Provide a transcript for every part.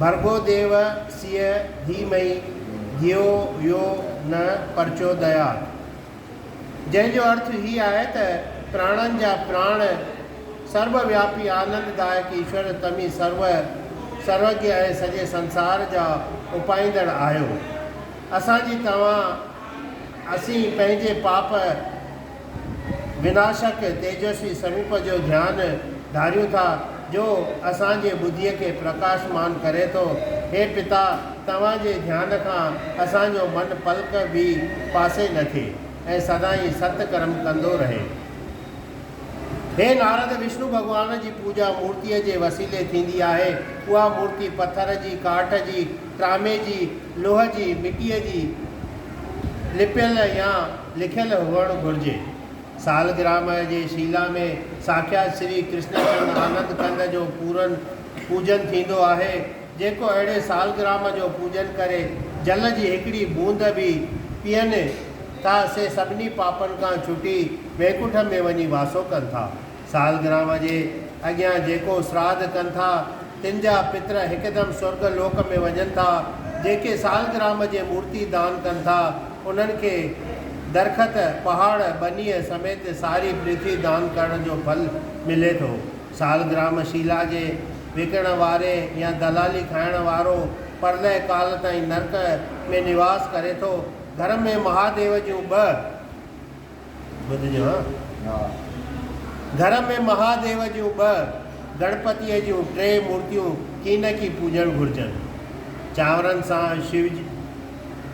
ڀرڳو ديو سيء ڌي مئي ڌيو ويو نه پرچو ديا. جنهن جو ارٿ هي آهي ته پراڻن جا پراڻ، سرب وياپي آنند دائڪ ايشور تمهين سرو سروگيا ۽ سڄي سنسار جا اپائيندڙ آهيو. اسان جي توهان اسين پنهنجي پاپ، بنا شڪ تيجسوي سروپ جو ڌيان ڌاريون ٿا، جو اسان جي ٻڌيء کي پرڪاشمان ڪري ٿو. هي پتا! توهان جي ڌيان کان اسان جو من پلڪ به پاسي نه ٿئي ۽ سدائين ست ڪرم ڪندو رهي. هي نارد! وشنو ڀڳوان جي پوڄا مورتيء جي وسيلي ٿيندي آهي. اها مورتي پٿر جي، ڪاٺ جي، ٽرامي جي، لوهه جي، مٽيء جي لپيل يا، لکيل هئڻ گهرجي. سالگرام جي شيلا ۾ ساکيات شري ڪرشن چند آنند ڪنڌ جو پورن پوڄن ٿيندو آهي، جيڪو اهڙي سالگرام جو پوڄن ڪري جل جي هڪڙي بوند به پيئن ٿا سي سڀني پاپن کان ڇٽي وينڪنٺ ۾ وڃي واسو ڪن ٿا. سالگرام جي اڳيان جيڪو سراڌ ڪن ٿا، تن جا پتر هڪدم سرڳ لوڪ ۾ وڃن ٿا. جيڪي سالگرام جي مورتي دان ڪن ٿا، انهن کي درخت، پهاڙ، ٻنيء سميت ساري پرٿوي دان ڪرڻ جو ڦل ملي ٿو. سالگرام شيلا جي وڪڻڻ واري يا دلالي کائڻ وارو پرلئه ڪال تائين نرڪ ۾ نواس ڪري ٿو. گهر ۾ مهاديو جون ٻه. ٻڌجو ها. گهر ۾ مهاديو جون ٻه، گڻپتيء جون ٽي مورتيون ڪين ڪي پوڄڻ گهرجن. چانورن سان شو جو،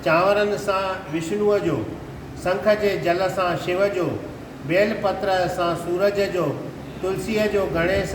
چانورن سان وشنوء جو، سنک جي جل سان شو جو، بيل پتر سان سورج جو، تلسيء جو گڻيس،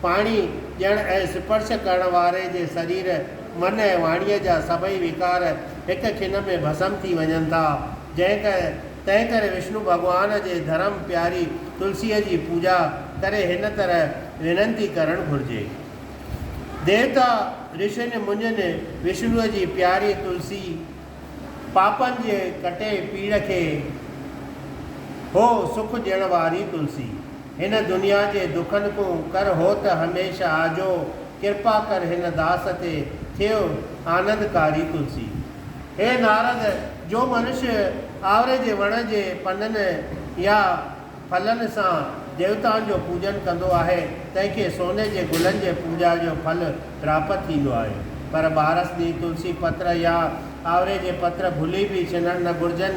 پاڻي ڏيڻ ۽ سپرش ڪرڻ واري جي سرير، من ۽ واڻيء جا سڀئي وڪار هڪ کن ۾ ڀسم ٿي وڃن ٿا. جنهن ڪري تنهن ڪري وشنو ڀڳوان جي ڌرم پياري تلسيء جي پوڄا ڪري هن طرح وينتي ڪرڻ گهرجي. ديوتا، رشين، منين وشنوء جي پياري تلسي، پاپن جي ڪٽي پيڙ کي هو سک ڏيڻ واري تلسي. هن دنيا جي دکن ڪون ڪر هو ته هميشه آجو ڪرپا ڪر هن داس تي ٿيو آنند ڪاري تلسي. هي نارد! جو منش آوري جي وڻ جي پنن يا ڦلن سان ديوتائن جو پوڄن ڪندو آهي، تنهن کي سوني جي گلن جي پوڄا جو ڦل پراپت ٿيندو آهي. پر ٻارس ڏينهن تلسي پتر يا آوري جي پتر ڀلي به شنڻ نه گهرجن،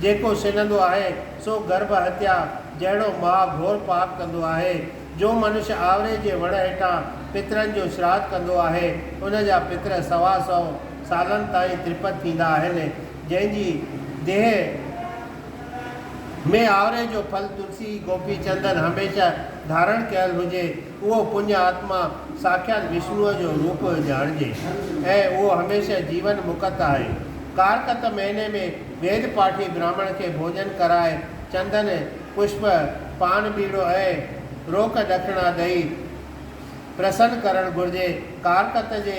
جيڪو شنندو آهي، سو گرڀ هتيا جهڙو ماء گهور پاڪ ڪندو آهي. جو منش آوري جي وڻ هيٺان پترن جو شراڌ ڪندو آهي، ان جا پتر سوا سئو سالن تائين ترپت ٿيندا آهن، جنهن جي ديهه، ۾ آوري جو ڦل تلسي گوپي چندن هميشه ڌارڻ ڪيل هجي، اهو پڃ آتما ساکيات وشنوء جو روپ ڄاڻجي ۽ اهو هميشه جيون مڪت آهي. ڪارڪت مهيني ۾ ويد پاٺي براهمڻ کي ڀوڄن ڪرائي چندن، پشپ، پان ٻيڙو ۽ روڪ ڏکڻا ڏئي پرسن ڪرڻ گهرجي. ڪارڪت جي.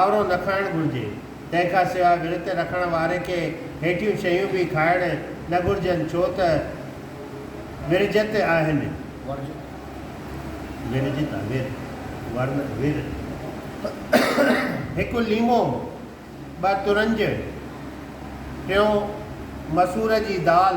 آورو نه کائڻ گهرجي. تنهن کان سواء ورت رکڻ واري کي هيٺيون شيون به کائڻ نه گهرجن ڇو ته ورجت آهن. هڪ ليمو، ٻه ترنج، ٽيون مسور جي دال،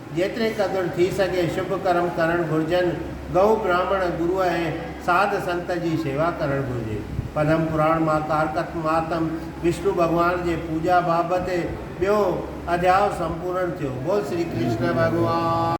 جيتري قدر ٿي سگهي شڀ ڪرم ڪرڻ گهرجن، گئو، براهمڻ، گرو ۽ ساڌ سنت جي شيوا ڪرڻ گهرجي. پدم پراڻ مان ڪارڪت مهاتم وشنو ڀڳوان جي پوڄا بابت ٻيو اڌياء سمپورڻ ٿيو. بول شري ڪرشن ڀڳوان.